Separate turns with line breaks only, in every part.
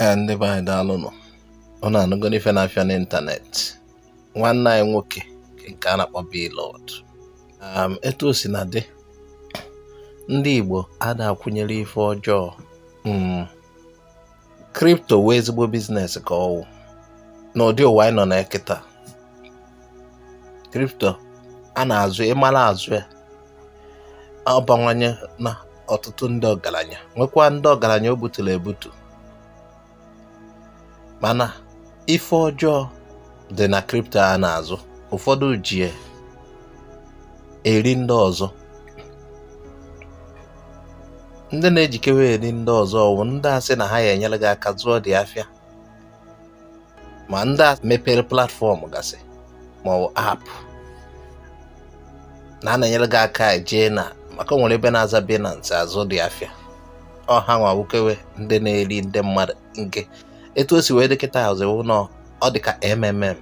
ee ndị be anyị daalụnụ unu anụgo n'ife na-afịa n'ịntanetị nwanne anyị nwoke nke a na-akpọ Blord um, etu o si na dị ndị Igbo ada akwụnyere ife ọjọọ hmm. kripto wụ ezigbo biznes ka ọ wụ n'ụdị ụwa anyị nọ na kịta kripto a na-azụ ị mara azụ ya ọ bawanyena ọtụtụ ndị ọgaranya nwekwaa ndị ọgaranya o buturu ebutu mana ife ọjọọ dị na kripto a na-azụ ụfọdụ ji eri ndị ọzọ ndị na-ejikewe eri ndị ọzọ ọ wụ ndị a sị na ha ya-enyere gị aka zụọ dị afịa ma ndị a mepere platfọm gasị ma ọ bụ app na ha na-enyere gị aka jee na market o nwere ebe na-aza Binance azụ dị afịa ọ hanwa wụkewe ndị na-eri ndị mmadụ nke etu o si wee dị kịtazi wụ na ọ dị ka MMM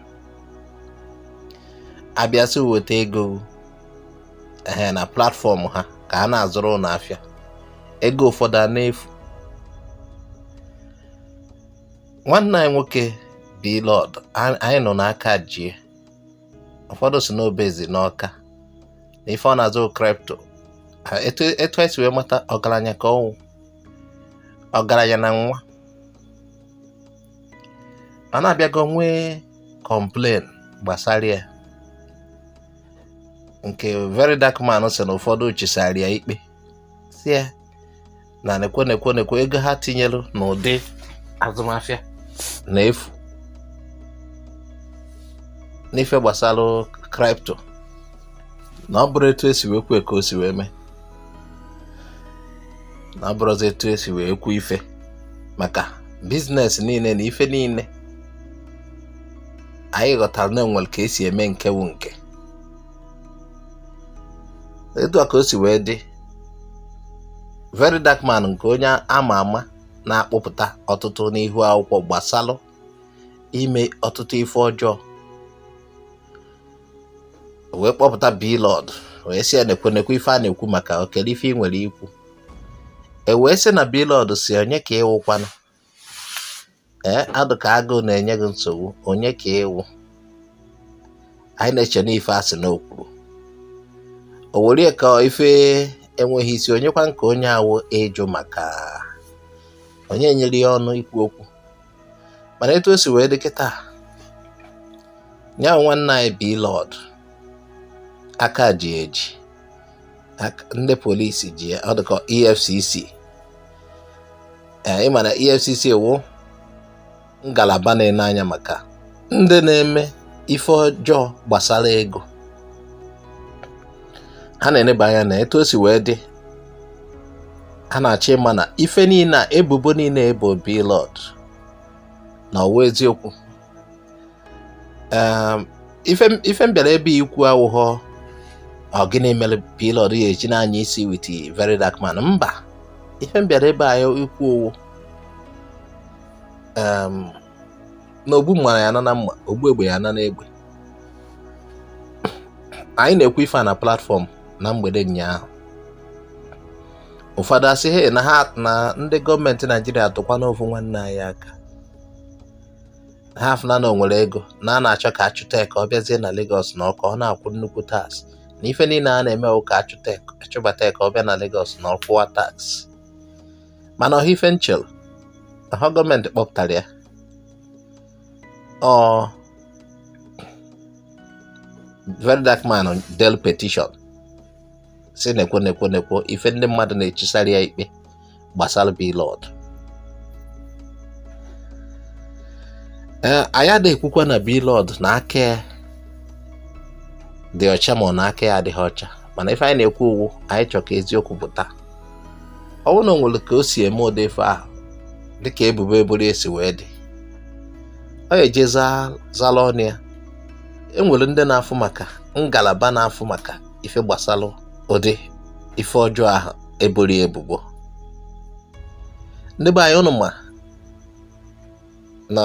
a bịa sị weta ego ehe na platfọm ha ka a na-azụrụ unu afịa ego ụfọdụ a na-efu nwanne anyị nwoke Blord anyị nụ na aka jie ụfọdụ sị na o bezi n'Ọka na ife ọ na-azụ kripto etu e si wee mata ọgaranya ka ọ wụ ọgaranya na nwa mana a bịago nwee complain gbasara ya nke Very Dark Man sị na ụfọdụ chisara ya ikpe sị ya na nekwe nekwe nekwe ego ha tinyere n'ụdị azụmaafịa na-efu n'ife gbasara kripto na ọ bụrọ etu e si wee kwue ka o si wee mee na ọ bụrọzi etu e si wee kwu ife maka biznes niile na ife niile anyị ghọtara na e nwere ka e si eme nke wụ nke etu a ka o si wee dị Very Dark Man nke onye ama ama na-akpụpụta ọtụtụ n'ihu akwụkwọ gbasalụ ime ọtụtụ ife ọjọọ wee kpọpụta Blord wee sị ya nekwe nekwe ife a na-ekwu maka okele ife i nwere ikwu e wee sị na Blord sị onye ka ị wụkwana ee eh, ọ dụ ka agụụ na-enye gị nsogbu onye ka ị wụ anyị na-eche n'ife a sị na o kwuru o were ya ka ife enweghị isi onyekwa ka onye a wụ ịjụ maka onye nyere ya ọnụ ikwu okwu mana etu o si wee dị kịta nya wụ nwanne anyị Blord aka ji eji ndị polisi ji ya ọ dị ka EFCC ee ịma na EFCC wụ ngalaba na-ene anya maka ndị na-eme ife ọjọọ gbasara ego ha na-eneba anya na etu o si wee dị ha na-achọ ịma na ife niile a ebubo niile ebo Blord na ọ wụ eziokwu um, ife m bịara ebe ikwu awụghọ ọ gịnị mere Blord ya eji na-anya isi with Very Dark Man mba ife m bịara ebe a ikwu ọ wụ um, na ogbu mma ya-ana na mma ogbu egbe ya-ana na egbe anyị na-ekwu ife a na platfọm na mgbede ụnyaahụ ụfọdụ asị he na ha na ndị gọọmenti naijiria tụkwa n'ofu nwanne anyị aka ha afụna na o nwere ego na a na-achọ ka achụta ya ka ọ bịazie na Lagos na ọ ka ọ na-akwụ nnukwu tax na ife niile a na-eme ọ ka achụbata ya ka ọ bịa na Lagos na ọ kwụwa tax mana ọ họ ife m chere ọ họ gọọmenti kpọpụtara ya ọ Very Dark Man delu petition si nekwo nekwo nekwo ife ndị mmadụ na-echisara ya ikpe gbasara Blord anyị ada-ekwukwa na Blord na aka dị ọcha ma ọ na aka ya adịghị ọcha mana ife anyị na-ekwu wụ anyị chọrọ ka eziokwu pụta ọ bụrụ na o nwere ka o si eme ụdị ife ahụ dịka ebubo eboro ya si wee dị ọ ya-eje zala ọnụ ya enwere ndị na-afụ maka ngalaba na-afụ maka ife gbasalụ ụdị ife ọjọọ ahụ eboro ya ebubo ndị be anyị ụnụ ma na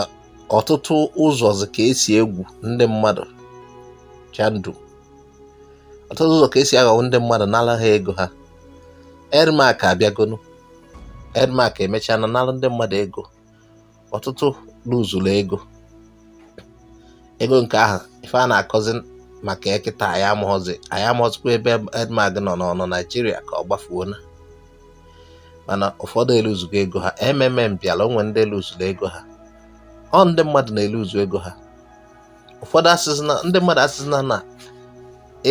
ọtụtụ ụzọzi ka esi egwu ndị mmadụ chandụ ọtụtụ ụzọ ka esi aghọgbu ndị mmadụ nala ha ego ha Edmark abịagonu Edmark emechaana nalụ ndị mmadụ ego ọtụtụ luzuru ego ego nke ahụ ife a na-akọzi maka ya kịta anyị amaghọzi anyị amaghọzikwa ebe Edmark nọ ọ nọ naijiria ka ọ gbafuona mana ụfọdụ eluzugo ego ha MMM bịara o nwee ndị luzuru ego ha ọ ndị mmadụ na-eluzu ego ha ụfọdụ asịsịna ndị mmadụ asịsịna na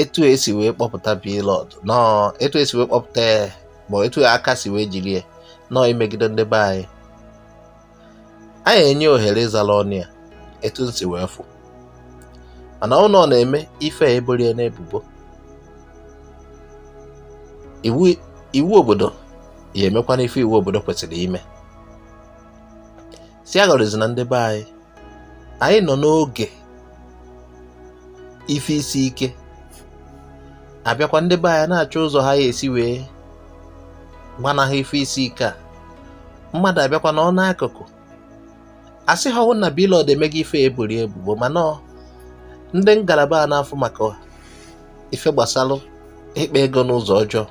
etu esi wee kpọpụta Blord na etu esi wee kpọpụta ya ma etu aka si wee jiri ya na ọ imegide ndị be anyị anyị enye ohere ịzara ọnụ ya etu m si wee fụ mana ọ wụ na ọ na-eme ife eboro ya n'ebubo iwu obodo ya-emekwanụ ife iwu obodo kwesịrị ime si aghọrịzi na ndị be anyị anyị nọ n'oge ife isi ike abịakwa ndị be anyị na-achọ ụzọ ha ya esi wee gbanahụ ife isi ike a mmadụ abịakwa nọrọ n'akụkụ asị ha ọ wụ na Blord emeghị ife e boro ebubo mana ndị ngalaba a na-afụ maka ife gbasara ịkpa ego n'ụzọ ọjọọ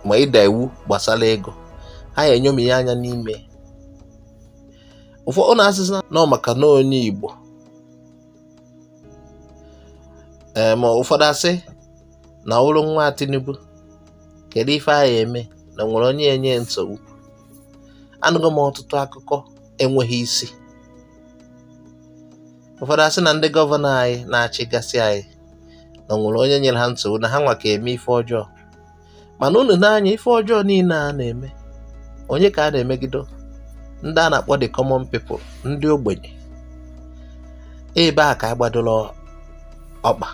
ma ịda iwu gbasara ego ha ya enyomi ya anya n'ime ụfọdụ na-asịsị na ọ maka na onye Igbo ee ma ụfọdụ asị na ọ bụrụ nwa Tinubu kedu ife a ya eme na nwere onye enye nsogbu anụgo m ọtụtụ akụkọ enweghị isi ụfọdụ asị na ndị gọvanọ anyị na-achịgasị anyị na nwere onye nyere ha nsogbu na ha nwa ka eme ife ọjọọ mana unu nee anya ife ọjọọ niile a na-eme onye ka a na-emegido ndị a na-akpọ the common people ndị ogbenye ebe a ka a gbadoro ọkpa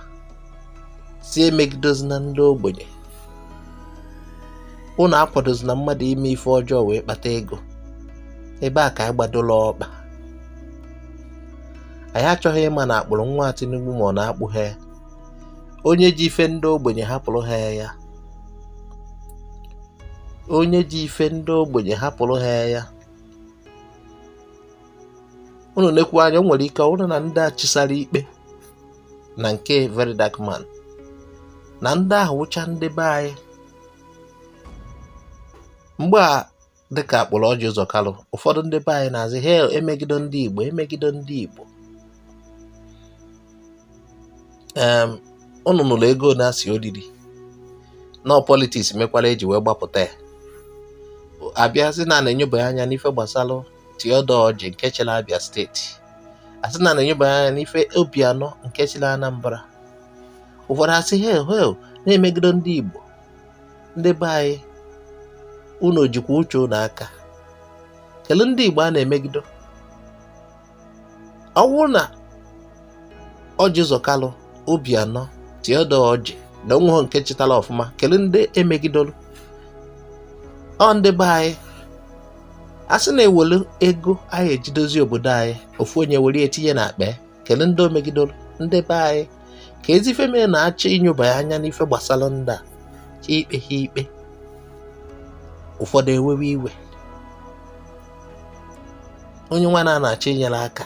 sị emegidozina ndị ogbenye unu akwadozina mmadụ ime ife ọjọọ wee kpata ego ebe a ka anyị gbadola ọkpa anyị achọghị ịma na a kpụrụ nwa Tinubu ma ọ na akpụghị ya onye ji ife ndị ogbenye hapụrụ ha ya onye ji ife ndị ogbenye hapụrụ ha ya unu nekwu anya o nwere ike ọ bụrụ na ndị a chịsara ikpe na nke Very Dark Man na ndị ahụ wụcha ndị be anyị mgbe a dịka a kpụrụ Ọjị Ụzọ Kalụ ụfọdụ ndị be anyị na-asị he emegido ndị Igbo emegido ndị Igbo unu nụrụ ego a na-asị o riri na ọ politiks mekwara eji wee gbapụta ya a bịa sị na a na-enyoba ya anya n'ife gbasara Theodore Orji nke chịrị Abia steeti a sị na a na-enyoba ya anya n'ife Obianọ nke chịrị Anambra ụfọdụ asị he he na-emegido ndị Igbo ndị be anyị unu o jikwa uche unu aka kelee ndị Igbo a na-emegido ọ bụrụ na Ọjị Ụzọ Kalụ Obianọ Theodore Ọjị na onweghọ nke chịtara ọfụma kelee ndị emegidolu ọ ndị be anyị a sị na e welu ego anyị e ji edozi obodo anyị ofu onye were ya tinye na akpa kelee ndị o megidoro ndị be anyị kezi ife mere a na-achọ ịnyoba ya anya n'ife gbasara ndị a ka e kpee ha ikpe ụfọdụ ewewe iwe onye nwa a na-achọ inyere aka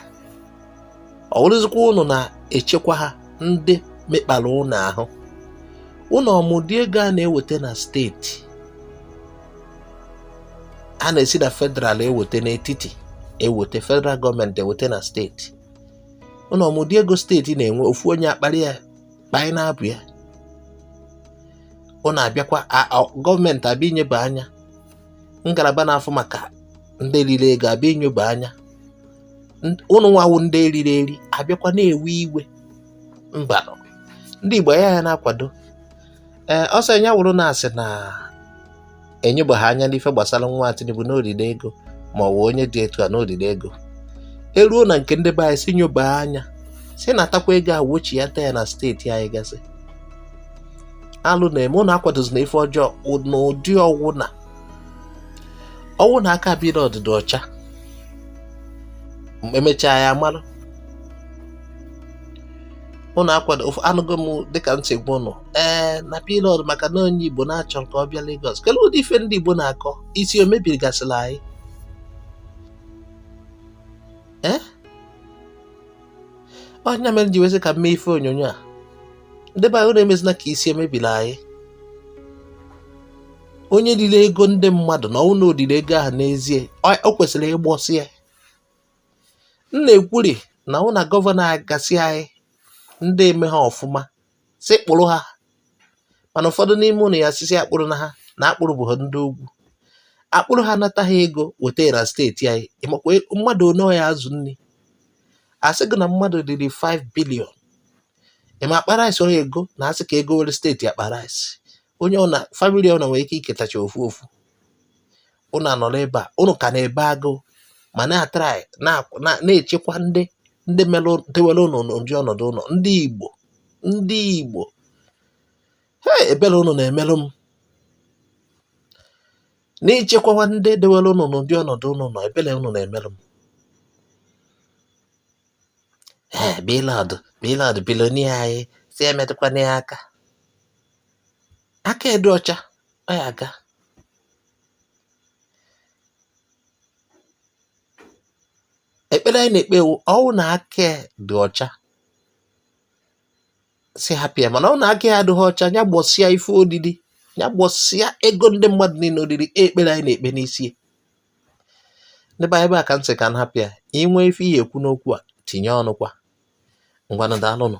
ọ wụrụzikwa unu na-echekwa ha ndị mekpara unu ahụ unu ọ ma ụdị ego a na-eweta na steeti a na-esi na federal eweta n'etiti eweta federal gọọmenti eweta na steeti ụnụ ọ ma ụdị ego steeti na-enwe ofu onye akpali ya kpanye n'abụ ya ụnụ abịakwa gọọmenti abịa inyeba anya ngalaba na-afụ maka ndị riri ego abịa inyeba anya ụnụ nwa wụ ndị e riri eri abịakwa na-ewe iwe mba ndị Igbo ya ya na-akwado ee ọsọ ya wụrụ na asị na enyobeghị anya n'ife gbasara nwa Tinubu n'oriri ego ma ọ bụ onye dị etu a n'oriri ego eruo na nke ndị be anyị si nyoba anya si natakwa ego a wechiata ya na steeti anyị gasị alụ na-eme ụnụ akwadozina ife ọjọọ n'ụdị ọwụ na ọwụ na aka Blord dị ọcha emechaa ya mara ụnụ akwado anụgo m dịka m si gwa ụnụ ee na Blord maka na onye Igbo na-achọ ka ọ bịa Lagos kedu ụdị ife ndị Igbo na-akọ isi o mebirigasịla anyị ee ọ nya mere ji wee sị ka m mee ife onyonyo a ndị be anyị ụnụ emezina ka isi emebiri anyị onye riri ego ndị mmadụ na ọwụ na o riri ego ahụ n'ezie o kwesịrị ịgbọsị ya m na-ekwuri na hụ na gọvanọ gasị anyị ndị emeha ọfụma si kpụrụ ha mana ụfọdụ n'ime ụnụ ya-asị sị akpụrụna ha na akpụrụbeha ndị ugwu akpụrụ ha nata ha ego weta na steeti anyị ị makwa e, mmadụ one ọ ya-azụ nri asị gị na mmadụ riri 5 bilion ị ma akpa rice one ọ ya-ego na asị ka e gowere steeti akpa rice onye ọwụna famili ọwụna nwere ike iketacha ofu ofu ụnụ anọrọ ebe a ụnụ ka na-ebe agụụ ma na-atrai na-echekwa ndị ndị melụ dewere ụnụ n'ụdị ọnọdụ ụnụ nọ ndị Igbo ndị Igbo hee ebere ụnụ na-emerụ m n'ichekwawa ndị dewere ụnụ n'ụdị ọnọdụ ụnụ nọ ebere ụnụ na-emerụ m ee Blord Blord billionaire anyị si emetụkwana ya aka aka ya dị ọcha ọ ya aga ekpere anyị na-ekpe wụ ọwụ na aka ya dị ọcha si hapịa mana ọwụ na aka ya adịghị ọcha ya gbọsịa ife o riri ya gbọsịa ego ndị mmadụ niile o riri e ekpere anyị na-ekpe n'isi ya ndị be ebe a ka m sị ka m hapịa i nwee ife ị ya-ekwu n'okwu a tinye ọnụ kwa ngwanụ daalụnụ